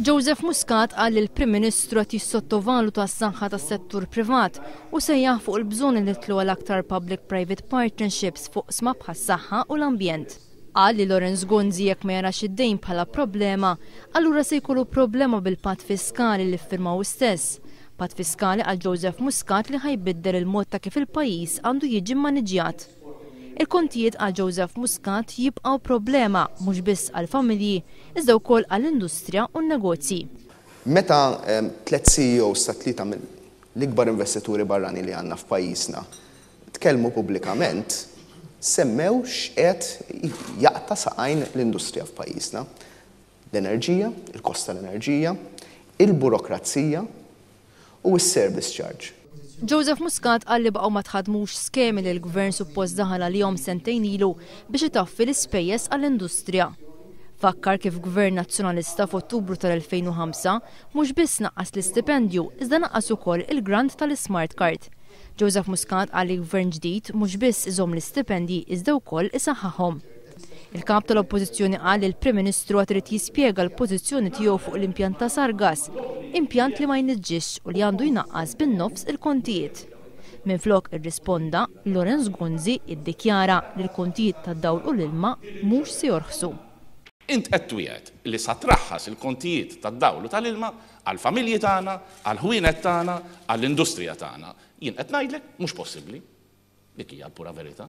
Joseph Muscat qal li l-Prim Ministru qed jissottovaluta s-saħħa tas-settur privat u sejjaħ fuq il-bżonn li nidħlu għal aktar public private partnerships f'oqsma bħas-saħħa u l-ambjent. Qal li Lawrence Gonzi jekk ma jarax id-dejn bħala problema, allura se jkollu problema bil-Patt Fiskali li ffirma hu stess. Patt Fiskali qal Joseph Muscat li ħa jbiddel il-mod ta' kif il-pajjiż għandu jiġi mmaniġġjat. Il-kontijiet għal Joseph Muscat jibqgħu problema mhux biss għall-familji iżda wkoll għall-industrija u n-negozji. Meta tliet CEOs ta' tlieta mill-ikbar investituri barranin li għandna f'pajjiżna tkellmu pubblikament, semmew x'qiegħed jaqta' saqajn l-industrija f'pajjiżna. l-enerġija, il-kost tal-enerġija, il-burokrazija u s-service charge. Joseph Muscat qal li baqgħu ma tħaddmux skemi li l-Gvern suppost daħal għalihom sentejn ilu biex itaffi l-ispejjeż għall-industrija. Fakkar kif Gvern Nazzjonalista f'Ottubru tal-2005 mhux biss naqqas l-istipendju iżda naqqas ukoll il-grant tal-ismart card. Joseph Muscat qal li Gvern ġdid mhux biss iżomm l-istipendji iżda wkoll isaħħaħhom. Il-Kap tal-Oppożizzjoni qal li l-Prim Ministru għad irid jispjega l-pożizzjoni tiegħu fuq l-impjant ta' Sargass, impjant li ma jniġġisx u li għandu jnaqqas bin-nofs il-kontijiet. Minflok irrisponda, Lawrence Gonzi iddikjara li l-kontijiet tad-dawl u l-ilma mhux se jorħsu. Int qed twiegħed li sa traħħas il-kontijiet tad-dawl u tal-ilma għall-familji tagħna, għall-ħwienet tagħna, għall-industrija tagħna. Jien qed ngħidlek mhux possibbli. Dik hija l-pura verità.